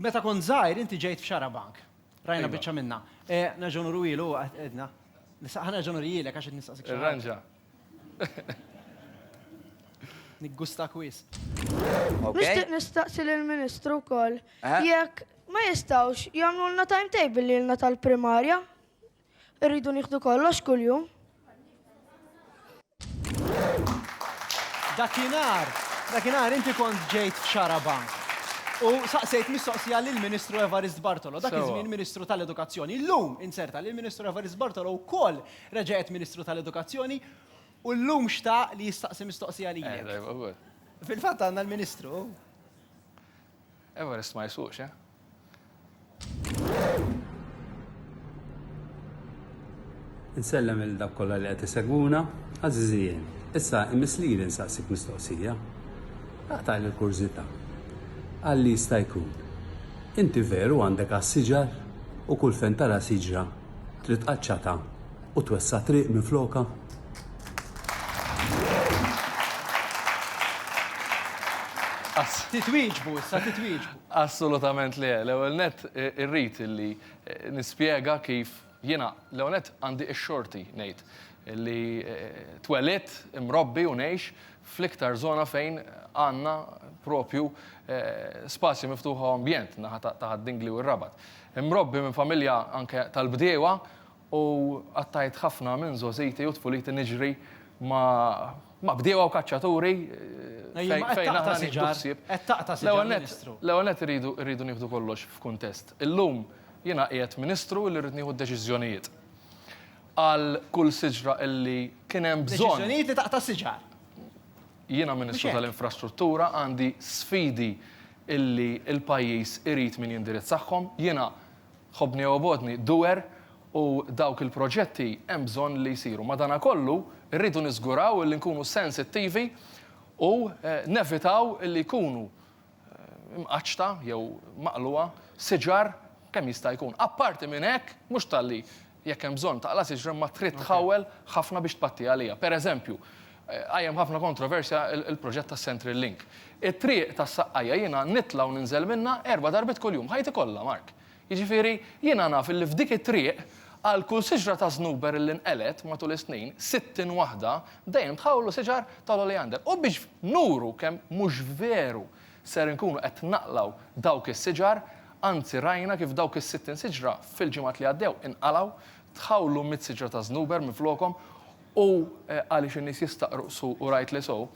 Meta kont żgħir inti ġejt f'Xarabank. Rajna biċċa minnha. Nerġgħu nurwielu huwa qed għedna. Nista' ħa nerġa' nurjilek għax qed nistaqsik xi ħaġa. Irranġa. Niggustak wisq. Nixtieq nistaqsi lill-Ministru wkoll jekk ma jistgħux jagħmlulna timetable lilna tal-primarja Irridu nieħdu kollox kuljum. Dakinhar, dakinhar inti kont ġejt f'Xarabank u saqsejt mistoqsija lill-Ministru Evarist Bartolo, dak iż-żmien Ministru tal-Edukazzjoni. Illum inzerta li l-Ministru Evarist Bartolo wkoll reġa' qed Ministru tal-Edukazzjoni u llum xtaq li jistaqsi mistoqsija lilek. Fil-fatt għandna l-Ministru. Everest ma jsuqx, eh? Insellem il dak kollha li qed isegwuna, għażiżijien. Issa imiss lili nsaqsik mistoqsija. Taqtali l-kurżità. Għal li jista' jkun. Inti veru għandek għas-siġar u kull fejn tara siġra trid qaċċata U twessa' triq minflokha. Titwieġbu issa, titwieġbu. Assolutament le. L-ewwel nett irrid illi nispjega kif jiena l-ewwel nett għandi x-xorti ngħid illi twelidt, imrobbi u ngħix fl-iktar żona fejn għandna propju spazji miftuħa u ambjent, naħa ta' Ħad-Dingli u r-Rabat. Imrobbi minn familja anke tal-bdiewa U qattajt ħafna minn żgħożiti u tfuliti niġri ma' bdiewa u kaċċaturi fejn aħna nieħdu ħsieb. L-ewwel nett, l-ewwel nett irridu, irridu nieħdu kollox f'kuntest. Illum jiena qiegħed Ministru illi rrid nieħu d-deċiżjonijiet għal kull siġra illi kien hemm bżonn. Deċiżjonijiet li taqta' siġar. Jiena Ministru tal-Infrastruttura għandi sfidi illi l-pajjiż irid min jindirizzahom. Jiena. Ħobbni jew Obgħodni, Duer u dawk il-proġetti hemm bżonn li jsiru. Madankollu, irridu niżguraw li nkunu sensittivi u nevitaw li jkunu mqaċċta jew maqlugħa siġar kemm jista' jkun. Apparti minn hekk, mhux talli Jekk hemm bżonn taqla' siġra imma trid tħawwel ħafna biex tpatti għaliha. Per eżempju, qajjem ħafna kontroversja l-proġett tas-Central Link. It-triq tas-Saqqajja jiena nitla' u ninżel minnha erba' darbiet kuljum, ħajti kollha, Mark. Jiġifieri, jiena naf illi f'dik it-triq, għal kull siġra ta' żnuber illi nqelgħet matul is-snin, sittin waħda, dejjem tħawwlu siġar tal-oleander. U biex nuru kemm mhux veru ser inkunu qed naqlgħu dawk is-siġar, anzi rajna kif dawk is-sittin siġra fil-ġimgħat li għaddew inqalgħu, tħawlu mitt siġra ta' żnuber minflokhom u għaliex in-nies jistaqru qsu u rightly so,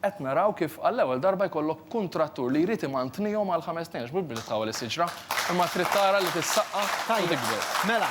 qed naraw kif għall-ewwel darba jkollok kuntrattur li jrid imantnihom għal ħames snin għax mhux biss li tħawwel is-siġra imma trid tara li tissaqqa u tikber. Tajjeb, mela.